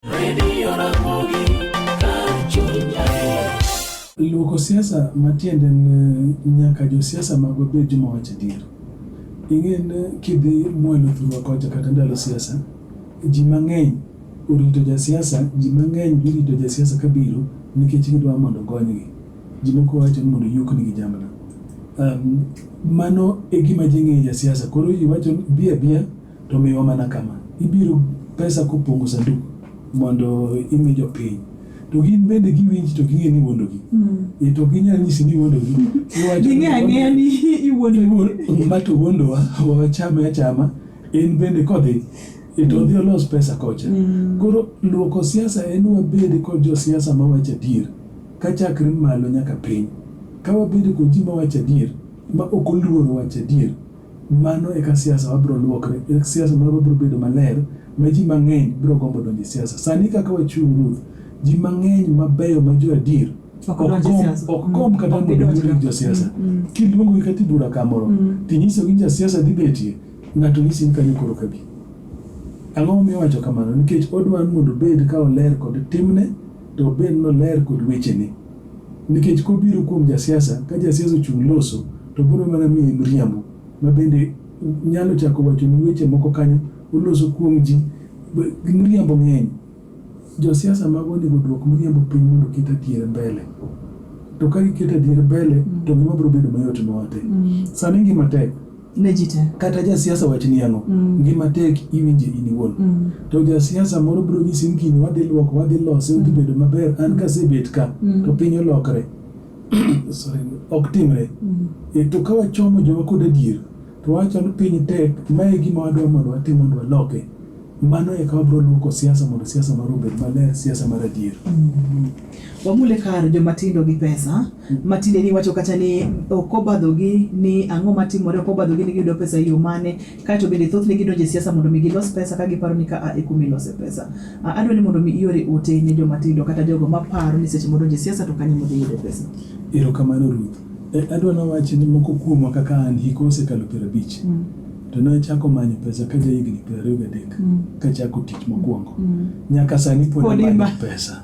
Radio Ramogi, kar chuny adier. Luoko siasa matiende en eh, nyaka josiasa magwa bed joma wacho adier. Ing'e ni eh, kidhi mwalo thurwa kocha kata ndalo siasa, ji mang'eny orito jasiasa, ji mang'eny girito jasiasa kabiro nikech gidwa mondo ogonygi. Ji moko wacho ni mondo oyuknigi jamna. Um, mano e gima ji ng'eyo jasiasa. Koro ji wacho ni bi abiya To miwa mana kama, ibiro pesa kopongo sanduku mondo imi jopiny to gin bende giwinji to ging'e ni iwuondogi hmm. e to ginyal nyisi ni iwuondogi ging'e ang'eya ni iwuondogi ma to wuondowa wachame achama en bende kodhi e to odhi olos pesa kocha hmm. koro luoko siasa en wabed kod josiasa mawacho adier ka chakre malo nyaka piny ka wabed kod ji mawacho adier ma ok oluoro wacho adier Mano eka siasa wa biro luokre, eka siasa marwa biro bedo maler ma ji mang'eny biro gombo donjo e siasa. Sani kaka wachung' Ruth, ji mang'eny mabeyo ma jo adier Ok ok donj e gomb- siasa. ok Mm. gomb kata Ok mondo gidonj giwinj ka. josiasa. Mm, mm. Kiluongogi kata e bura kamoro, Mm. tinyisogi ni jasiasa dhi betie, ng'ato nyisi ni kanyo koro kabi. Ang'o momiyo wacho kamano? Nikech odwa ni mondo obed ka oler kod timne To obed noler kod wechene. Nikech kobiro kuom jasiasa, ka jasiasa ochung' loso, to biro mana miye miriambo, ma bende nyalo chako wachoni weche moko kanyo, oloso kuom ji, miriambo ng'eny. Josiasa mago onego oduok miriambo piny mondo oket adier mbele. To ka giketo adier mbele, to ngima biro bedo mayot nwa te. Sani ngima tek. ne ji te. Kata jasiasa wachni ang'o, mm. ngima tek iwinje in iwuon. Mm. To jasiasa moro biro nyisi ni gini wadhi luoko, wadhi lose, odhi bedo mm. maber, an kasebet ka, mm. to piny olokre. Sorry, ok timre. Mm. E, to ka wachomo joma kod adier, to wachalo piny tek, mae gima wadwa mondo watim mondo waloke. Mano e kama biro luoko siasa mondo siasa mar obed maler, siasa mar adier. Wamule kar joma tindo gi pesa matinde ni wacho kata ni ok obadhogi ni ang'o matimore ok obadhogi ni giyudo pesa e yo mane kaeto bende thothne gidonjo e siasa mondo mi gilos pesa ka giparo ni ka a e kuma ilose pesa. A- Adwa ni mondo mi iore ote ne joma tindo kata jogo maparo ni seche modonjo e siasa to kanyo modhi yude pesa. Erokamano Ruth. E, adwa nawachi ni moko kuomwa kaka an hiko osekalo piero abich. To ne achako manyo pesa ka jahigni piero ariyo gadek mm. kachako tich mokwongo mm. nyaka sani pod amanyo pesa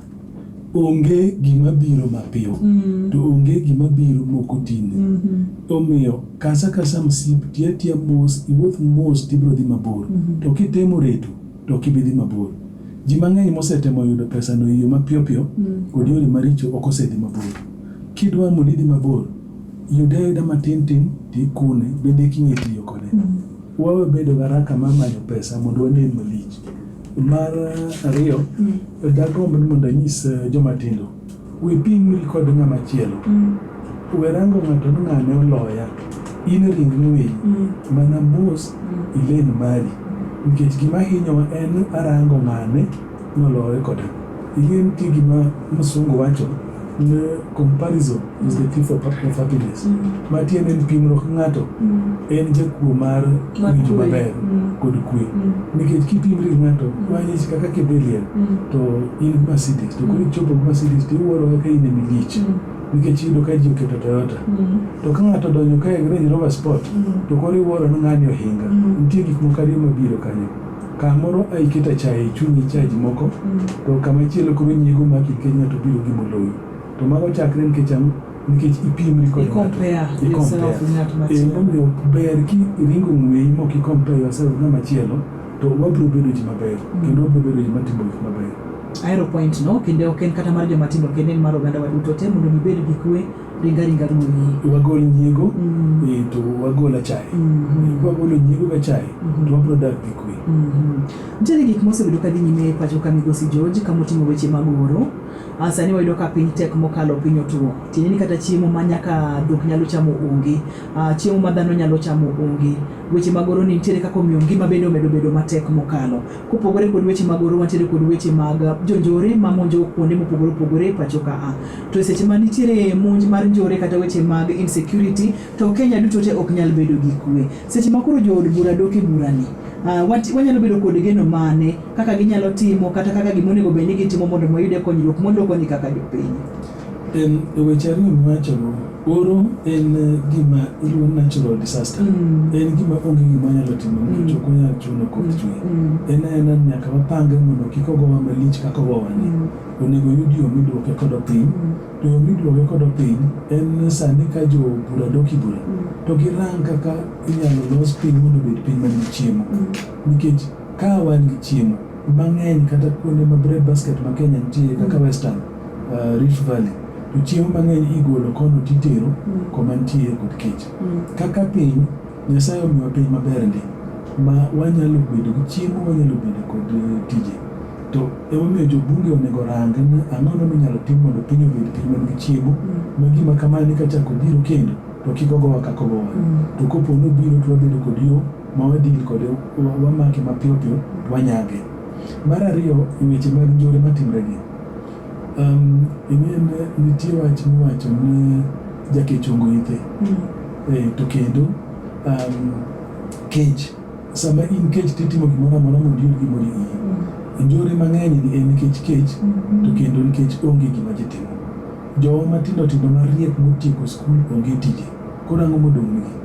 onge gima biro mapiyo mm. to onge gima biro moko tinde mm -hmm. omiyo kasa kasa msip tiatia mos iwuoth mos tibiro dhi mabor mm -hmm. to kitemo reto to ok ibi dhi mabor. Ji mang'eny mosetemo yudo pesano e yo mapiyo piyo kod yore maricho ok osedhi mabor. Kidwaro mondo idhi mabor, yude ayuda matin tin to ikune, bende eka ing'e tiyo kode. Wawe bedo gi haraka mar manyo pesa mondo wanen malich. Mar ariyo, dagomb ni mondo anyis joma tindo, We pimri kod ng'ama chielo. Mm. We rango ng'ato ni ng'ane oloya. In ringni winy. Mm. Mana mos mm. ilen mari. Nikech gima hinyowa en arango ng'ane nolore koda. Ing'e nitie gima msungu wacho ni comparison is the thief of happiness. Mm. Matiende ni pimruok ng'ato mm. en jakuo mar winjo maber mm. kod kwe mm. nikech kipimri ng'ato wanyisi mm. kaka kidhiliel to in Mercedes to koro ichopo Mercedes to iwuoro kaka in emi lich nikech iyudo ka ji oketo Toyota to ka ng'ato donjo ka e Range Rover Sport to koro iwuoro ni ng'ani ohinga nitie gik moko ariyo mabiro kanyo kamoro aiketa chae e chunyi chaji moko to kama chielo koro nyiego maki nikech ng'ato biro gi moloyi to mago chakre nikech ang'o nikech ipiemri kod ng'atomomiyo eh, ber ki iringo ng'weyi mok ikompe yourself ng'ama chielo to wabiro bedo ji maber mm. kendo wabiro bedo ji matimo gik maber aero point no kendo ok en kata mar joma tindo kendo en mar oganda waduto te mondo mibed gi kwe ringa ringa ruoyi wagol nyiego mm. eh, to wagol achaye mm-hmm. kwagolo nyiego ga chaye mm-hmm. to wabiro dak gi kwe mm-hmm. nitiere gik mosebedo ka dhi nyime e pacho ka migosi george ka moting'o weche mag oro Ah, sani wayudo ka piny tek mokalo piny otuo tiende ni kata chiemo ma nyaka dhok nyalo chamo onge ah, chiemo ma dhano nyalo chamo onge weche mag oro ni nitiere kaka omiyo ngima bende omedo bedo matek mokalo kopogore kod weche mag oro wantiere kod weche mag jonjore ma monjo kuonde mopogore opogore e pacho ka a ah. to e seche ma nitiere monj mar njore kata weche mag insecurity to Kenya duto te ok nyal bedo gi kwe seche ma koro jood bura dok e burani wanyalo bedo kod geno mane kaka ginyalo timo kata kaka gima onego bed ni gitimo mondo mayude konyruok modoko ni kaka jopiny. En weche ariyo miwachogo, oro en eh, gima iluwo natural disaster. Mm. En gima onge gima nyalo timo mm. nikech ok onyal chuno koth mm. chwe. Mm. En aena nyaka wapange mondo kik ogowa malich kaka ogowani. Mm. Onego yud yo midwoke kodo piny. Mm. To yo midwoke kodo piny en sani ka jo bura doki bura. Mm. To girang kaka inyalo los piny mondo obed piny manigi chiemo. Mm. Nikech Ka wan gi chiemo mang'eny kata kuonde ma bread basket ma Kenya nitie kaka mm. Western uh, Rift Valley to chiemo mang'eny igolo kono titero mm. koma nitie kod kech. Mm. Kaka piny Nyasaye omiwa piny maber ndi ma wanyalo bedo gi chiemo wanyalo bedo kod uh, tije to emomiyo jobunge onego orange ni ang'o no minyalo tim mondo piny obed piny man gi chiemo ma gima kamani kachako biro kendo to kik ogowa kakogowa to kopo nobiro to wabedo kod yo ma wadil kode wamake mapiyo piyo to wanyage. Mar ariyo e weche mag njore matimregi, um, ing'en nitie wach miwacho ni jakechongo ithe mm. e, to kendo um, kech sama in kech titimo gimoro amora mondo iyud gimoro iyi mm. njore mang'eny ni en nikech kech mm -hmm. to kendo nikech onge gima jitimo jowa matindo tindo mariek motieko skul onge tije Koro ang'o modong'nigi?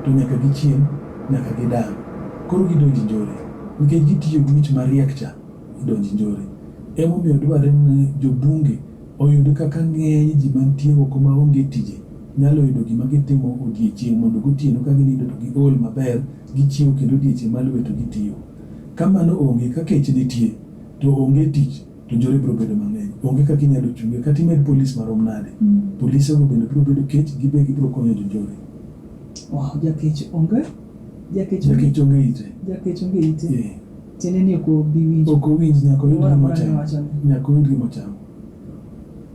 To nyaka gichiem, nyaka gidang'. Koro gidonj njore, nikech gitiyo gi wich mariek cha, gidonj njore. Emomiyo dwarre ni jo Bunge oyud kaka ng'eny ji mantie oko ma onge tije nyalo yudo gima gitimo odiechieng' mondo gotieno ka ginindo to giol maber, gichiew kendo odiechieng' maluwe to gitiyo. Ka mano onge, ka kech nitie, to onge tich. to njore biro bedo mang'eny. Onge kaka inyalo chunge kata imed polis marom nade. Mm. Polise go bende biro bedo kech, gibe gibiro konyo jonjore. Wow, jakech onge jakech onge jakech onge ite. Jakech onge ite. Yeah. Tiende ni ok obi winjo. Ok owinj nyaka oyud gima ochamo. Nyaka oyud gima ochamo.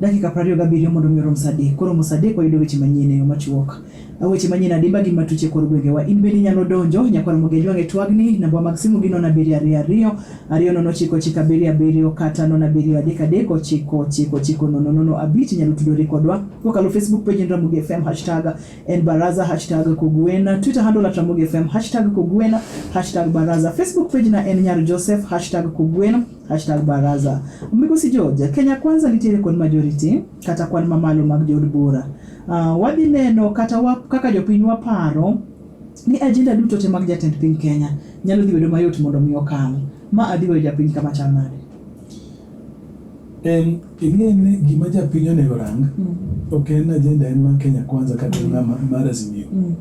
Dakika 27 mondo mi orom saa adek. Koro mo saa adek wayudo weche manyien e yo machuok. Weche manyien adimba gi matuche kor gwengewa. In bende inyalo donjo. Nyakwar Mugi Ajwang' e twagni. Nambwa mag simu gi nono abiriyo ariyo ariyo, ariyo nono ochiko ochiko abiriyo abiriyo kata nono abiriyo adek adek ochiko ochiko ochiko nono nono abich. Inyalo tudori kodwa kokalo Facebook page en Ramogi FM hashtag en Baraza hashtag Kogwena Twitter handle at Ramogi FM hashtag Kogwena hashtag Baraza Facebook page na en Nyar Joseph hashtag Kogwena hashtag Baraza. Migosi George, Kenya Kwanza nitiere kod majority kata kwan mamalo mag jood bura. Uh, wadhi neno kata wa, kaka jopiny waparo ni ajenda duto te mag jatend piny Kenya nyalo dhi bedo mayot mondo mi okal. Ma adhi weyo japiny kama chal nade? Em, ing'e ni gima japiny onego rang Mm. ok en ajenda en mar Kenya kwanza kata en mar mar Azimio. Mm.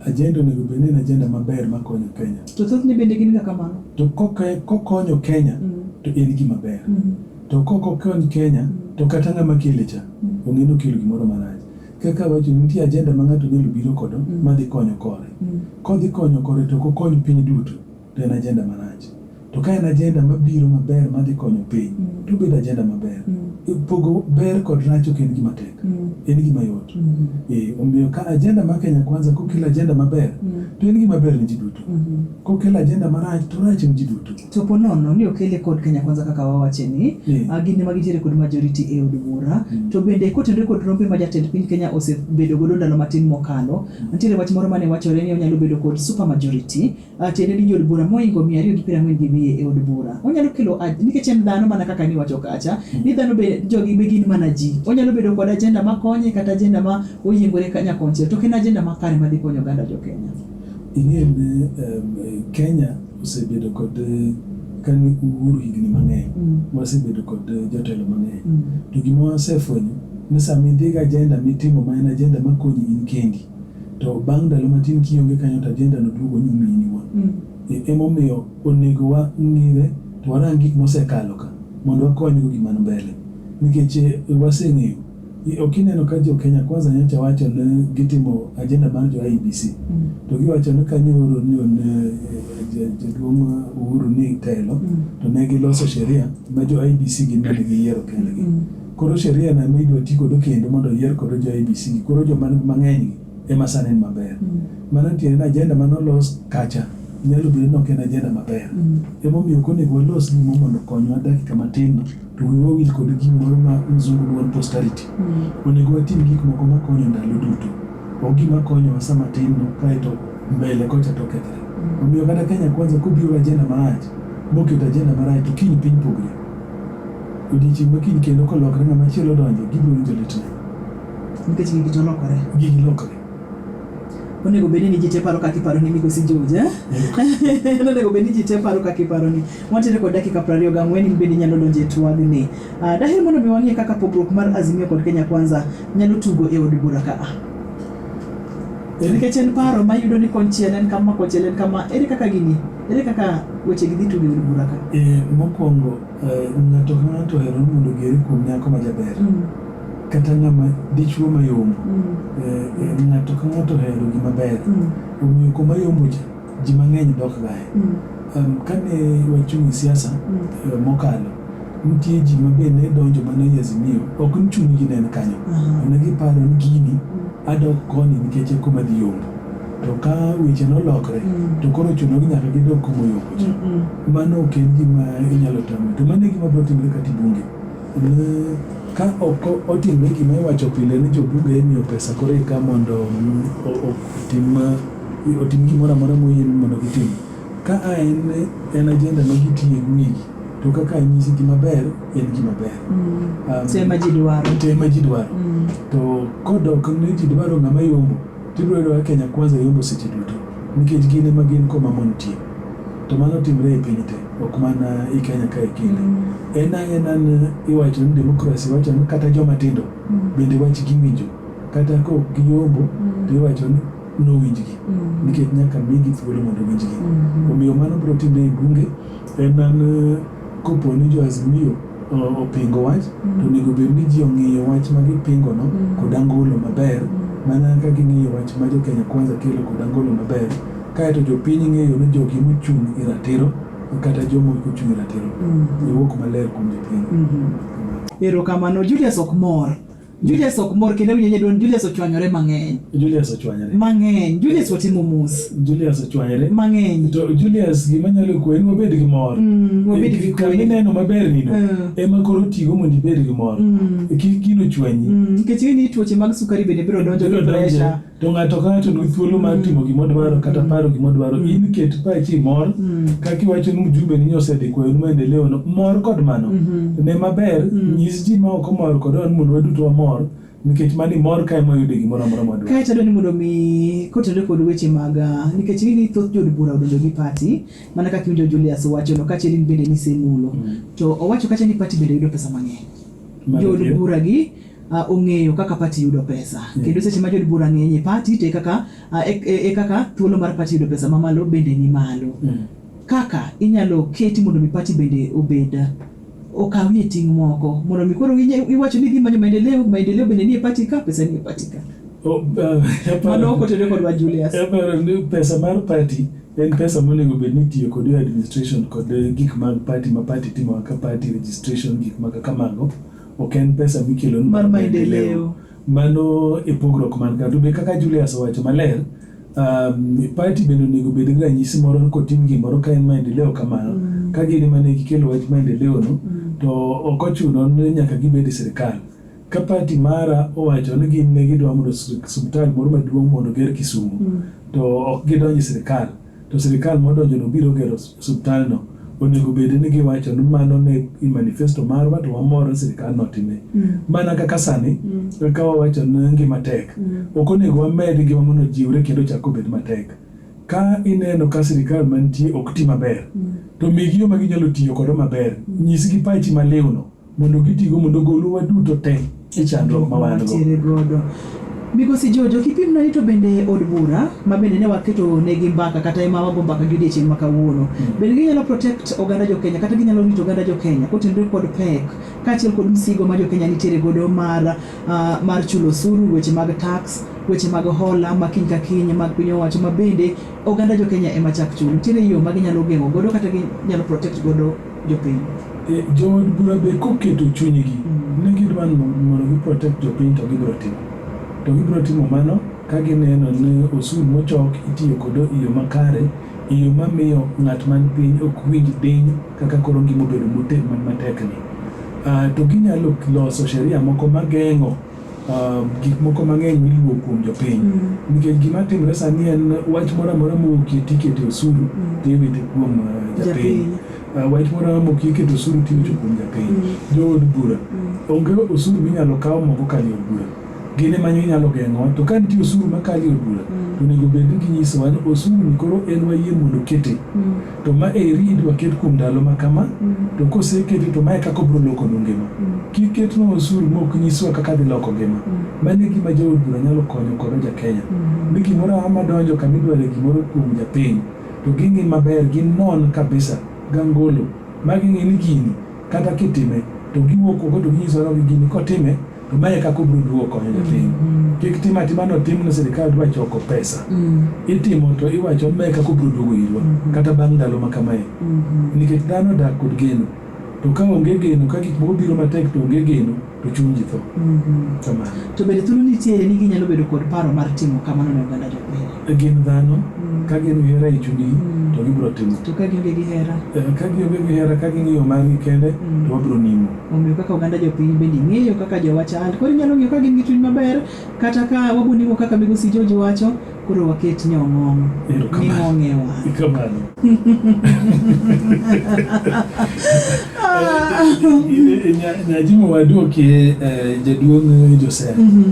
Ajenda onego bed ni en ajenda maber makonyo Kenya. To thothne bende gin ga kamano. To koke- kokonyo Kenya Mm. to en gima ber. Mm. To kok okony Kenya to kata ng'ama kele cha ong'e ni okelo gimoro marach. Kaka awacho nitie agenda ma ng'ato nyalo biro kodo mm. madhi konyo kore. Mm. Kodhi konyo kore to kokony piny duto to en agenda marach. To ka en agenda mabiro maber madhi konyo piny mm. to bedo agenda maber. E, pogo ber kod rach ok en gima tek. En gima yot. E, omiyo ka agenda ma Kenya Kwanza kokelo agenda maber to en gima ber ne ji duto. Kokelo agenda marach to rach ne ji duto. To po nono ni okele kod Kenya Kwanza kaka wawache ni, Mm. ah, gin ema gitiere kod majority e od bura. Mm. To bende kotenore kod rombe ma jatend piny Kenya osebedo godo ndalo matin mokalo, nitiere wach moro mane wachore ni onyalo bedo kod super majority, ah, tiende ni jood bura moingo mia ariyo gi piero ang'wen gi wiye e od bura. Onyalo kelo aj- nikech en dhano mana kaka niwacho kacha, ni dhano be jogi be gin mana ji. Onyalo bedo kod ajenda makonye kata ajenda ma oyiengore ka nyakonchiel, to ok en ajenda makare madhi konyo oganda jo Kenya. Ing'e ni Kenya osebedo kod kani uhuru higni mang'eny, wasebedo kod jotelo mang'eny. To gima wasefwenyo ni sama idhi gi ajenda mitimo ma en ajenda makonyi in kendi, to bang' ndalo matin kionge kanyo to ajenda no duogo nyumi in iwuon. Emomiyo onego wang'ire to warang gik mosekalo ka mondo wakonygo gima ni mbele. Nikech waseng'eyo Ok ineno ka jo Kenya Kwanza nyocha wacho ni gitimo agenda mar jo IBC mm. to giwacho ni kane oro ni eh, jaduong' Uhuru ni telo mm. to ne giloso sheria ma jo IBC gin mane giyiero kendgi mm. koro sheria na midwa ti godo kendo mondo oyier kodo jo IBC koro joma mang'eny ema sani en maber. Mm. Mano tiende ni ajenda mane olos kacha nyalo bedo ni ok en ajenda maber. Mm. Emomiyo ok onego walos gimo mondo okonywa dakika matin to wiwa wawil kod gimoro ma mzungu luon posterity. Mm. Onego watim gik moko makonyo ndalo duto. Ok gima konyowa sama tin no kaeto mbele kocha to okethre. Mm. Omiyo kata Kenya Kwanza kobiro ajenda marach moketo ajenda marach to kiny piny pogre. Odiechieng' ma kiny kendo kolokre ng'ama chielo donjo gibiro winjo litne. Nikech gigi to lokore. Gigi lokore. Onego bed ni ji te paro kaka iparo ni migosi George. Eh? Onego bed ni ji te paro kaka iparo ni. Wantiere kod dakika piero ariyo gang'wen in bende inyalo donjo e twagni. Uh, daher mondo mi wang'e kaka pogruok mar Azimio kod Kenya Kwanza nyalo tugo e od bura ka. Eh, nikech en paro ma yudo ni konchiel en kama konchiel en kama ere kaka gini ere kaka weche gi dhi tugo e od bura ka. Eh, mokwongo eh, ng'ato ka ng'ato ohero mondo ogere kuom nyako ma jaber. Mm. kata ng'ama dichuo mayombo mm. eh, eh, ng'ato ka ng'ato ohero gima ber mm. omiyo kuma yombo cha ji mang'eny dok gae mm. um, kane wachung' e siasa eh, mokalo nitie ji ma be ne donjo mana e Azimio ok ni chunygi ne en kanyo uh-huh. ne giparo ni gini adok koni nikech e kuma dhi yombo to ka weche nolokre to koro chuno gi nyaka gidok kuma yombo cha mano ok en gima inyalo tamo to mano e gima biro timore kata ibunge Ka ok otimre gima iwacho pile ni jobunge imiyo pesa koro eka mondo otim otim gimoro amora moyieni mondo gitim. Ka a en en ajenda ma gitiye wigi to kaka anyisi gima ber en gima ber. Te ma ji dwaro. Te ma ji dwaro. To kodok ni ji dwaro ng'ama yombo. Tibiro yudo ka Kenya Kwanza yombo seche duto nikech gin ema gin koma mon tie. To mano timre e piny te, ok mana i Kenya kae kende. En ang' en an iwacho ni demokrasi, iwacho ni kata joma tindo bende wach giwinjo. Kata ka ok giyombo, to iwacho ni nowinjgi nikech nyaka migi thuolo mondo owinjgi. Omiyo mano biro timre e bunge, en an Kopo ni jo Azimio opingo wach mm. to onego bed ni ji ong'iyo wach ma gipingo no mm. kod angolo maber mm. mana ka ging'iyo wach ma jo Kenya Kwanza kelo kod angolo maber kaeto jopiny ng'eyo ni jogi mochung' e ratiro kata jomo kochung' e ratiro iwuok maler kuom jopiny mm-hmm. erokamano Julius ok mor Julius ok mor kendo winjo nyaduon Julius ochwanyore mang'eny. Julius ochwanyore. Mang'eny. Julius watimo mos. Julius ochwanyore. Mang'eny. To Julius gima nyalo kuwe en wabed gi mor. Mm, wabed gi kuwe. Kami neno maber ni no. Mm. Ema koro tigo mondo ibed gi mor. Mm. Kik gino chwanyi. Mm. Nikech ni tuoche mag sukari bende biro donjo gi pressure. to ng'ato ka ng'ato nigi thuolo mar timo mm. gima odwaro kata mm. paro gima odwaro mm. in ket pachi mor kaka iwacho ni mjumbe ni osedhi kwayo ni maendeleo no mor kod mano mm-hmm. ne maber nyis ji ma ok omor kod wan mondo waduto wamor nikech mani mor kae moyude gimoro amora madwa kae tadwa ni mondo mi kotende kod weche mag ah, nikech gini thoth jod bura odonjo gi pati mana kaka iwinjo Julius wacho no kachiel in bende nisemulo to owacho kacha ni pati bende yudo pesa mang'eny jod bura gi uh, ong'eyo kaka pati yudo pesa mm. kendo seche ma jod bura ng'eny e pati to e kaka uh, e, e, e kaka thuolo mar pati yudo pesa mamalo bende ni malo mm. kaka inyalo keti mondo mi pati bende obed okawie ting' moko mondo mi koro iwacho ni dhi manyo maendeleo maendeleo bende nie pati ka pesa nie pati ka oh, uh, mano okotene kodwa Julius pesa mar pati en pesa monego bed ni tiyo kod administration kod gik mag pati ma pati timo kaka pati registration gik mag kamago Ok en pesa mikelo ni Mar maendeleo. Mano e pogruok man ka. To be kaka Julius owacho maler, um, party bende onego obed gi ranyisi moro ni kotim gimoro ka en maendeleo kamano. Mm. Ka gin ema ne gikelo wach maendeleo no, Mm. to ok ochuno ni nyaka gibed e sirkal. Ka party mara owacho ni gin ne gidwa mondo sir- osiptal moro maduong' mondo oger Kisumu, Mm. to ok gidonj e sirkal. to sirikal modonjono biro gero osuptalno, onego bed ni giwacho ni mano ne i manifesto marwa to wamor ni sirikal notime. Mm. Mana kaka sani, mm. kaka wawacho ni ngima tek, mm. ok onego wamed ngima mondo jiwre kendo chak obed matek. Ka ineno ka sirikal mantie ok ti maber, mm. to migi yo ma ginyalo tiyo kodo maber, mm. nyisgi pachi maliwno. mondo gitigo mondo ogolwa duto te e chandruok ma wan godo. Migosi Jojo, kipimna ni to bende od bura ma bende ne waketo negi mbaka kata ema wago mbaka gi odiechieng' ma kawuono, hmm. bende ginyalo protect oganda jo Kenya kata ginyalo rito oganda jo Kenya kotenore kod pek kaachiel kod msigo ma jo Kenya nitiere godo mar, uh, mar chulo osuru, weche mag tax, weche mag hola ma kiny ka kiny mag piny owacho ma bende oganda jo Kenya ema chak chulo. Nitiere yo ma ginyalo geng'o godo kata ginyalo protect godo jopiny. E, jood bura be koketo chunygi mm. ni gidwa mondo giprotect jopiny to gibiro timo to gibiro timo mano ka gineno ni osuru mochok itiyo kodo e yo makare e yo mamiyo ng'at man piny ok winj diny kaka koro ngima obedo matekni ah, to ginyalo loso sheria moko mageng'o Uh, gik moko mang'eny miluwo kuom jopiny mm. nikech gima timre sani en wach moro amora mowuokie tikete osuru mm. tiwite kuom uh, japiny uh, wach moro amora mowuokie ikete osuru tiwite kuom japiny mm. jood bura mm. onge osuru minyalo kaw moko kali od bura gine manyo inyalo geng'o to ka nitie osuru makali od bura mm. onego bed ni ginyisowa ni osuru ni koro en wayie mondo kete mm. to ma eri idwa ket kuom ndalo ma kama to koseketi to mae kaka obiro loko nu ngima kik ketnwa osuru ma ok nyiswa kaka dhi loko ngima mano e gima jaod bura nyalo konyo kodo jakenya ni gimoro amora madonjo kama idware gimoro kuom japiny to ging'i maber ginon kabisa gangolo ma ging'e ni gini Kata kitime to giwuok oko to ginyiso ni gini kotime to mae e kaka obiro duogo konyo jopiny. Mm. Kik tim atima no tim ni sirkal dwa choko pesa. Mm. Itimo to iwacho mae e kaka obiro duogo irwa mm-hmm. kata bang' ndalo ma kamae. Mm-hmm. Nikech dhano dak kod geno. To ka onge geno ka gik moko biro matek to onge geno to chuny ji tho Mhm. kamano To bende thuolo nitiere ni ginyalo bedo kod paro mar timo kamano ne oganda jopiny. E gin dhano Mm. ka gin gi hera e chunygi Mm. to gibiro timo To ka gionge gi hera, Eh, ka gionge gi hera ka ging'iyo margi kende Mm. to wabiro nimo omiyo kaka oganda jopiny bende ing'eyo kaka jowa chal. Koro inyalo ng'iyo ka gin gi chuny maber, kata ka wabonimo kaka migosi George wacho, Koro waket nyong'ong' Erokamano. ming'ong'ewa. Kamano. Nyajimo waduoki eh, jaduong' Joseph. Mhm,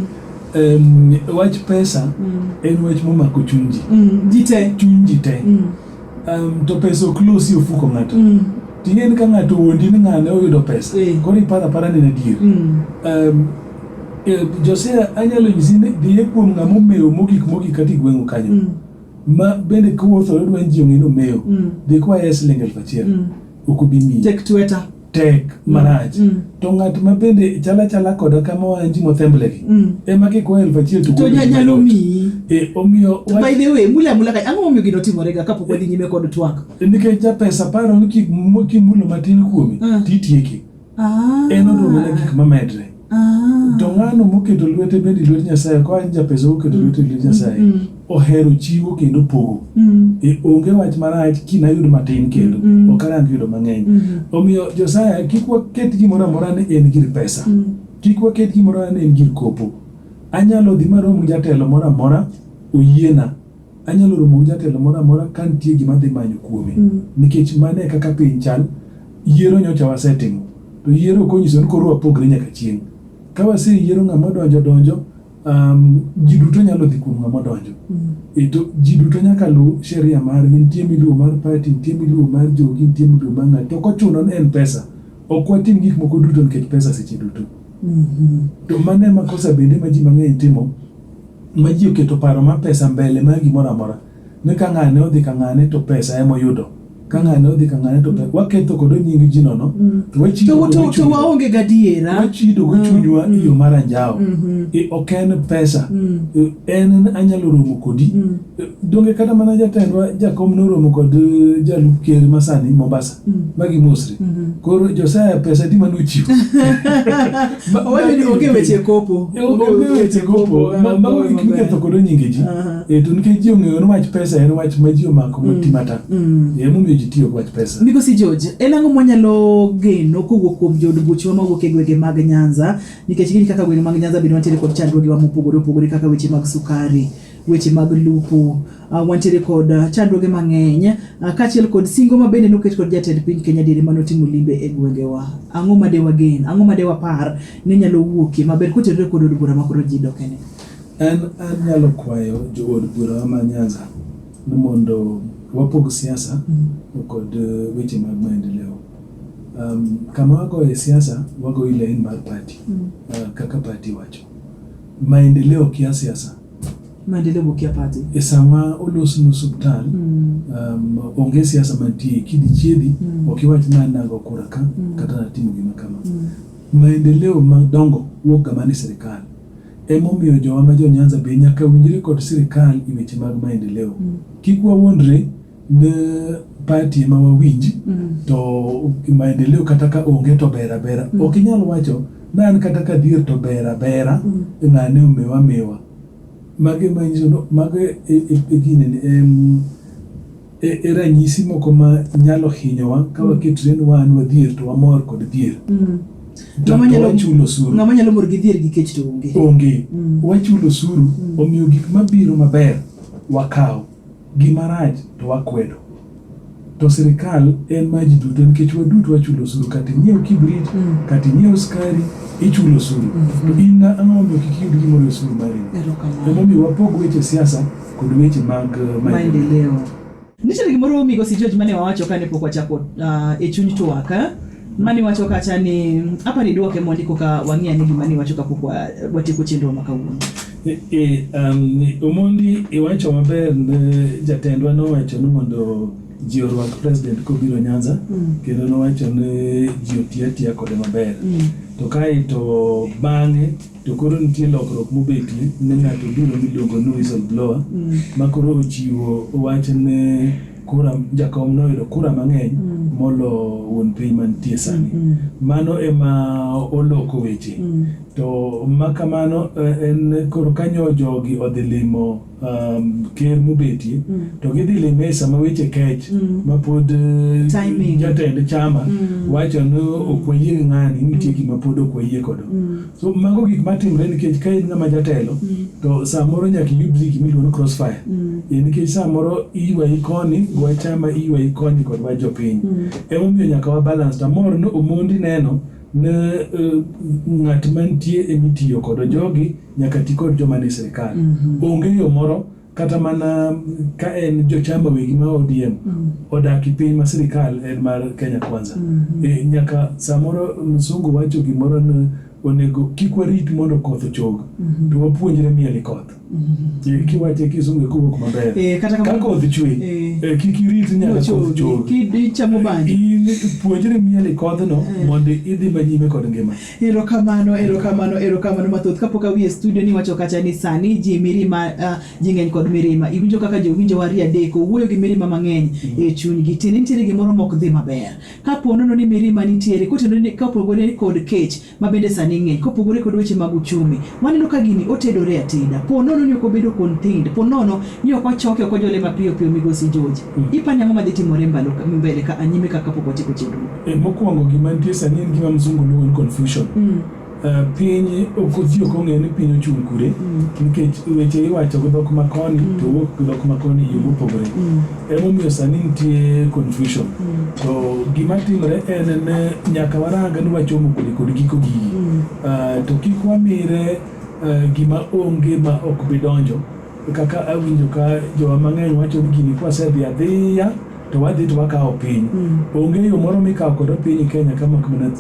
Em, wach pesa mm, en wach momako chunji. mm, Ji te. Chuny ji te. Mm, Em, to pesa ok losi ofuko ng'ato. mm, Ting'eni ka ng'ato wuondi ni ng'ane oyudo pesa. Eh. Koro iparo apara ni en adier. mm. Em, Eh, Josea anyalo nyisi ni dhiye kuom ng'ama omewo mogik mogik kata igweng'o kanyo mm. ma bende kuwuotho odwa ni ji ong'e ni omewo mm. dhi kwaye siling elfu achiel mm. ok obi miyi tek tweta tek marach mm. to ng'at ma bende chala chala koda kama wan ji mothemblegi mm. ema kikwaye elfu achiel to to nya- nyalo miyi e, omiyo to wach- by the way mula mula ka ang'o momiyo gino timorega kapok wadhi nyime kod twak nikech japesa paro ni kik- kimulo matin kuome Ah. titieki Ah. En odwoko mana gik mamedre. Ah. To ng'ano moketo lwete bende lwet Nyasaye, koa en japesa oketo lwete lwet Nyasaye, mm. ohero chiwo kendo pogo. Mm. E onge wach marach kinayud matin kendo, mm. ok arang yudo mang'eny. Mm-hmm. Omiyo Josaya, kik waket gimoro amora ni en gir pesa. Kik waket gimoro amora ni en gir kopo. Anyalo dhi marom gi jatelo moro amora oyiena Anyalo romo gi jatelo moro amora ka nitie gima adhi manyo kuome. Mm. Nikech mano e kaka piny chal, yiero nyocha wasetimo. To yiero ok onyiso ni koro wapogre nyaka chieng'. Ka waseyiero ng'ama odonjo donjo, um, ji duto nyalo dhi kuom ng'ama odonjo. Mm. E to ji duto nyaka luw sheria margi, nitie miluwo mar party, nitie miluwo mar jogi, nitie miluwo mar ng'ato. To kochuno ni en pesa, ok watim gik moko duto nikech pesa seche duto. Mm-hmm. To mano ema kosa bende ma ji mang'eny timo. ma ji oketo paro ma pesa mbele ma gimoro amora ni ka ng'ane odhi ka ng'ane to pesa ema oyudo ka ng'ane odhi ka ng'ane to pesa waketho kod nying ji nono mm. to wachido to to waonge gadiera wachido go mm. chunywa mm. yo mar anjawo mm-hmm. e, ok en pesa e, en anyalo romo kodi Donge kata mana jatendwa jakom noromo kod eh, jalup ker masani Mombasa mm. magi Mosri mm -hmm. koro Josiah pesa di manu chiwo owacho ni onge weche kopo eh, onge weche kopo ah, mago gik miketho kod nyinge ji e to nikech ji ong'eyo ni wach pesa en wach ma ji omako mm. matimata mm. e momiyo ji tiyo wach pesa migosi George en ang'o mwanyalo geno kowuok kuom jood buchwa mawuok e gwenge mag Nyanza nikech gin kaka gwenge mag Nyanza bende wantiere kod chandruogewa mopogore opogore kaka weche mag sukari weche mag lupo uh, wantiere kod uh, chandruoge mang'eny uh, kaachiel kod singo ma bende noket kod jatend piny Kenya diere mane otimo limbe e gwengewa. Ang'o ma de wagen, ang'o ma de wapar ni nyalo wuokie maber kotenore kod od bura makoro ji dokene? En anyalo kwayo jood bura ma Nyanza ni mondo wapog siasa mm. kod uh, weche mag maendeleo. Um, kama wagoye siasa wagoyi lain mar pati mm. uh, kaka pati wacho Maendeleo kia siasa. Maendeleo go kia party. E sama olos nu subtal, mm. um, onge siasa mantie, kidi chiedi, mm. okiwach na nago kura ka, mm. kata na timo gima kama. Mm. Maendeleo madongo wuok gama ni sirikal. Emomiyo jowa ma jo Nyanza be nyaka winjre kod sirikal e weche mag maendeleo. Mm. Kik wawuondre ne party ema wawinj mm. to maendeleo kata ka onge to ber abera mm. ok inyal wacho ni an kata ka dhier to ber abera mm. ng'ane omewa mewa mage manyiso mago e, e, e ginene em e, e ranyisi moko ma nyalo hinyowa ka mm. waketre ni wan wadhier to wamor kod dhier mm. wachulo osuru ng'ama nyalo mor gi dhier gi kech to onge onge mm. wachulo osuru mm. omiyo gik mabiro maber wakawo Gima rach to wakwedo. To sirkal en ma ji duto nikech waduto wachulo osuru kata inyiew kibrit, mm. kata inyiew skari, ichulo osuru. Mm-hmm. To in na ang'o mondo kik iyud gimoro e osuru mari. Emomiyo wapog weche siasa kod weche mag uh, maendeleo. Nitiere gimoro Migosi George mane wawacho kane pok wachako uh, e chuny twak eh? mani wacho kacha ni apa ni duoke mondi koka wang'e ni gima ni wacho kapok watieko chenro ma kawuono E, e, um, Omondi iwacho maber ne jatendwa nowacho ni mondo ji orwak president kobiro Nyanza mm. kendo nowacho ni ji otiya tiya kode maber mm. to kae to bang'e to koro nitie lokruok mobetie ne ng'ato biro miluongo ni whistle blower mm. ma koro ochiwo wach ne kura jakom noyudo kura mang'eny mm. molo wuon piny mantie sani mm. mano ema oloko weche mm. To ma kamano eh, en koro kanyo jogi odhi limo um, ker mobetie Mm. to gidhi lime e sama weche kech Mm. ma pod eh, Timing. jatend chama Mm. wacho ni ok wayie gi ng'ani nitie gima pod ok wayie kodo Mm. so mago gik matimre nikech ka in ng'ama jatelo Mm. to samoro nyaka iyud gik miluongo ni crossfire Mm. Eh, nikech samoro iywayi koni wa chama iywayi koni kod wa jopiny Mm. emomiyo nyaka wa balance to amor ni omondi neno Ne ng'at mantie emitiyo kodo jogi nyaka ti kod joma ni sirkal. Onge yo moro kata mana ka en jochama wegi ma ODM mm. odaki piny ma sirikal en mar Kenya Kwanza mm -hmm. e, nyaka samoro msungu wacho gimoro ni onego kik warit mondo koth ochog mm -hmm. to wapuonjre mieli koth Eh, kiwache kisunge kowuok maber Eh, kata kamano- ka koth chwe Eh. eh, kik irit nyaka koth Nochogi, chwe kid- ichamo banjo. In puonjri mieli kodhno mondo idhi manyime kod ngima erokamano erokamano erokamano mathoth kapok awi e studio niwacho kacha ni sani ji mirima uh, ji ng'eny kod mirima iwinjo kaka jowinjo wari adek owuoyo gi mirima mang'eny e chunygi tiende nitiere gimoro mok dhi maber kapo nono ni mirima nitiere kotenore ni- kapogore kod kech ma bende sani ng'eny kopogore kod weche mag uchumi. Waneno ka gini otedore ateda. Po nono ni ok obedo contained. Po nono ni ok ochoke ok ojole mapiyo piyo migosi George. Mm. Ipani ang'o madhi timore mbalo mbele ka anyime ka kapok watieko chenro? E, mokwongo gima nitie sani en gima mzungu luongo ni confusion. Mm. Uh, piny okothi ok ong'eyo ni piny ochung' kure mm. nikech weche iwacho gi dhok makoni mm. to wuok gi dhok makoni yo mopogore mm. Emomiyo sani nitie confusion. Mm. To gima timre en ne nyaka waranga ni wachomo kode kod giko gigi. Mm. Uh, to kik wamire uh, gima onge ma ok bi donjo kaka awinjo ka jowa mang'eny wacho ni gini kwasedhi adhiya to wadhi to wakawo piny. Mm. Onge yo moro mikawo kodo piny Kenya kama kamana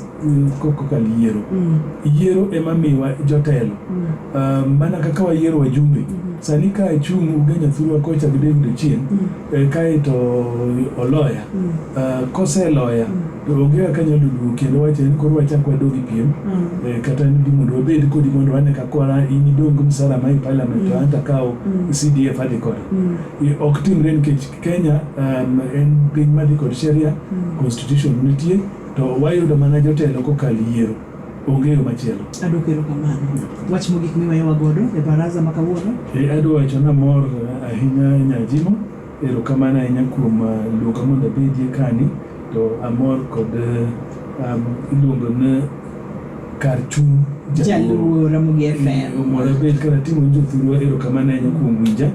koka yiero mm. yiero ema miwa jotelo mm. ah, mana kaka wayiero wajumbe mm-hmm. sani ka achung' ugenya thurwa kocha gi David Ochieng mm. eh, kae to oloya ah, koseloya to onge kaka nyalo duogo kendo wacho ni koro wachak wadogi piem eh, kata ni mondo wabed kodi mondo wane ka kora in idong gi msara ma e parliament to anta kawo CDF adhi kode eh, ok timre nikech Kenya um, en piny madhi kod sheria constitution nitie To wayudo mana jotelo kokal yiero. Onge yo machielo. Adwoko erokamano. Wach mogik miweyowa godo e baraza ma kawuono? Eh, adwa wacho ni amor ahinya Nyajimo. Erokamano ahinya kuom ah, luonga mondo abedie kani. To amor kod ah, um, iluongo ni kar chung' Jaluo Ramogi FM. Omora bed kar ating'o jothurwa. Erokamano ahinya kuom winja.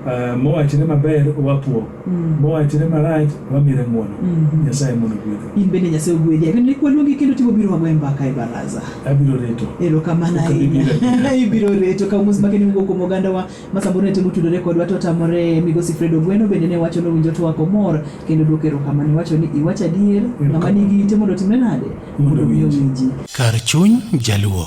Uh, mowachre maber wapuo mm. mowachre marach wamire ng'wono mm -hmm. nyasaye mondo gwedhe in bende nyasaye ogwedhi ageno ni kwaluongi kendo tibo biro wagoye mbaka e baraza abiro reto erokamano ahinya ibiro reto ka mos make niwugo kuom ogandawa ma samoro ne temo tudore kodwa to tamore migosi fred ogweno bende ne wacho nowinjo to wako mor kendo duoko erokamano iwacho ni iwacho adier ng'ama nigi ite mondo timre nade mondo winji kar chuny jaluo